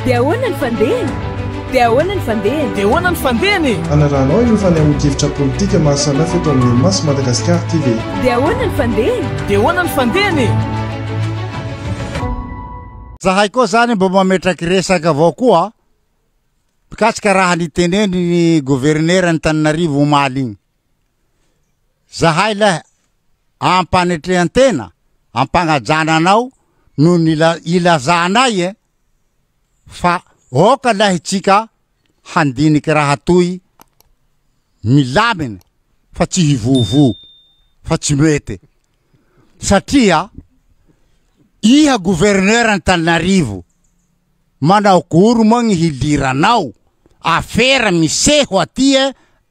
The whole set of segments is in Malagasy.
Dia ahoana ny fandehany? Dia ahoana ny fandehany? Dia ahoana ny fandehany e? Hanarahanao ireo fanehoan-kevitra politika maro samihafa eto amin'ny Mimasy Madagascar TV. Dia ahoana ny fandehany? Dia ahoana ny fandehany e? Zahay koa zany mba mametraky resaka avao koa mikasika raha niteneniny governeran'i Tananarivo omaly igny. Zahay leh ampanetrehantena ampagnajana anao no nila ilazanay eh fa aoka leh itsika handiniky raha toy milamina fa tsy hivovo fa tsy mety satria iha gouverneur antananarivo Manao goro moa gny hiliranao, afera miseho aty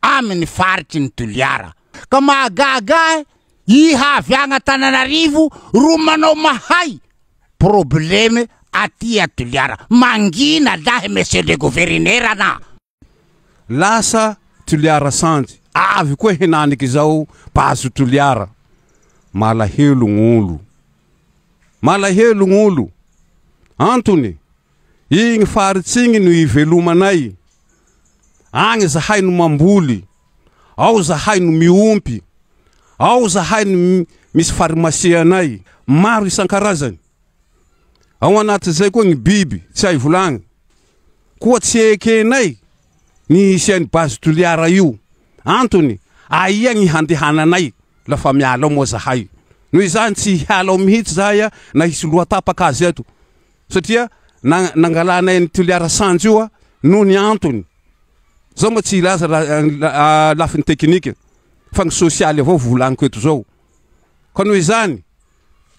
aminy faritry ny Toliara. Ka mahagaga ahy iha avy agny Antananarivo ro manao mahay probleme aty a Toliara. Mangina lahy Monsieur le Governeran a! Lasa Toliara Sanjy, avy koa henaniky izao Base Toliara. Malahelo gny olo. Malahelo gny olo. Antony, igny faritsy igny no ivelomanay. Agny zahay no mamboly, ao zahay no miompy, ao zahay no misy farimasianay maro isan-karazany. Ao anatin'izay koa gny biby tsy hay volagny. Koa tsy ekenay ny hisian'io base Toliara io. Antony, aia ny handehananay la fa miala ao moa zahay. Noho izany tsy hiala ao mihitsy zahay na hisy loha tapaka aza eto. Satria na nangalanay an'i Toliara Sanjo io noho ny antony. Zao moa tsy hilaza lafiny teknika fa ny sosialy avao volaniko eto zao. Ka noho izany.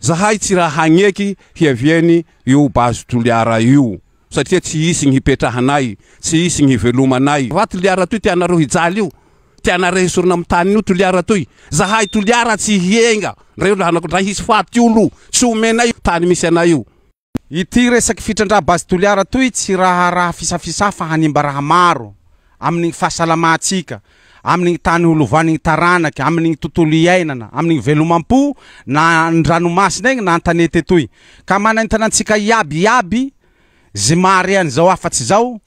Zahay tsy raha hagneky hiaviany io base Toliara io satria tsy hisy gny hipetrahanay, tsy hisy gny hivelomanay. Raha Toliara toy tianareo hijaly io, tianareo hesorina am taniny io Toliara toy, zahay Toliara tsy hienga ndray olo hanako ndray hisy faty olo tsy omenay tany misy anay io. Ity resaky fitrandraha base Toliara toy tsy raharaha fisafisaha fa hanimba raha maro amin ny fahasalamahantsika, amin ny tany ho lovan ny taranaka, amin ny tontolo iainana, amin ny velomampo na an ny ranomasina egny na an tanety etoy. Ka manaintana antsika iaby iaby zy maharean zao afatsy zao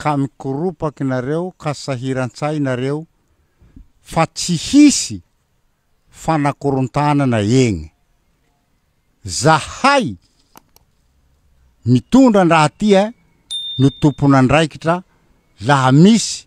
ka mikoropaky nareo ka sahiran-tsahy nareo fa tsy hisy fanakorontanana egny. Zahay mitondra an-draha ty eh no tompon'andraikitra laha misy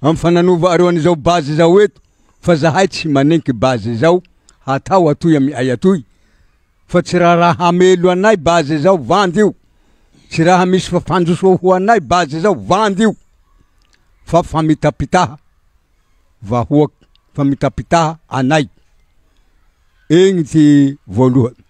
Am fa nanova areo anizao base zao eto fa zahay tsy manenky base zao hatao atoy am ay atoy fa tsy ra raha hamelo anay base zao vandy io tsy raha misy fa fanjosoa ho anay base zao vandy io fa famitapitaha vahoak famitapitaha anay egny ty voalohan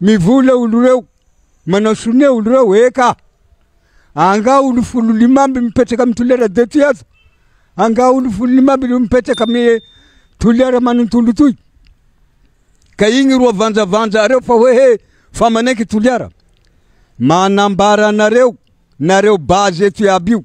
Mivola olo reo, manao sonia olo reo, eka! Anga olo folo lima amby mipetraka am toliara de ty aza, anga olo folo lima amby reo mipetraka am toliara manontolo toy, ka igny ro avanjavanja areo fa hoe he fa manenky toliara, manambara anareo nareo base eto iaby io.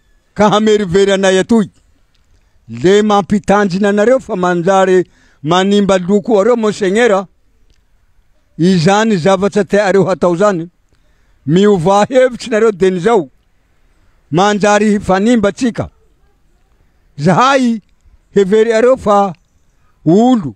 Ka hamerivery anay atoy. Le mampitandrina anareo fa manjary manimba loko areo Monseigneur a! Izany zavatra teareo hatao zany, miovà hevitry nareo dieny zao, manjary hifanimba tsika. Zahay hevery areo fa olo.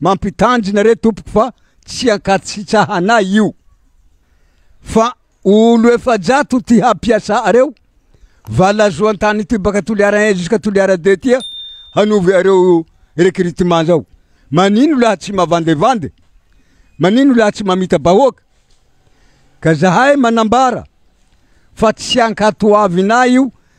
Mampitandrina re tompoko fa tsy ankasitrahanay io fa olo efajato ty hampiasa areo valazoan tany ty baka toliara un jusqu'à toliara deux ty hanovo areo recrutement zao manino laha tsy mavandevande manino laha tsy mamita bahoaka ka zahay manambara fa tsy ankatoavinay io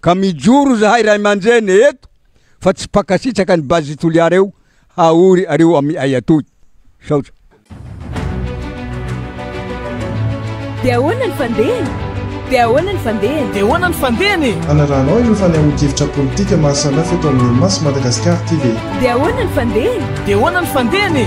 Ka mijoro zahay ray aman-dreny eto fa tsy mpankasitraka an'i Base Toliara eo haory areo amiay atoy. Misaotra. Dia ahoana ny fandehany? Dia ahoana ny fandehany? Dia ahoana ny fandehany e? Anarahanao ireo fanehoan-kevitra politika maha samihafa eto amin'ny Unimas Madagascar ity ve? Dia ahoana ny fandehany? Dia ahoana ny fandehany e?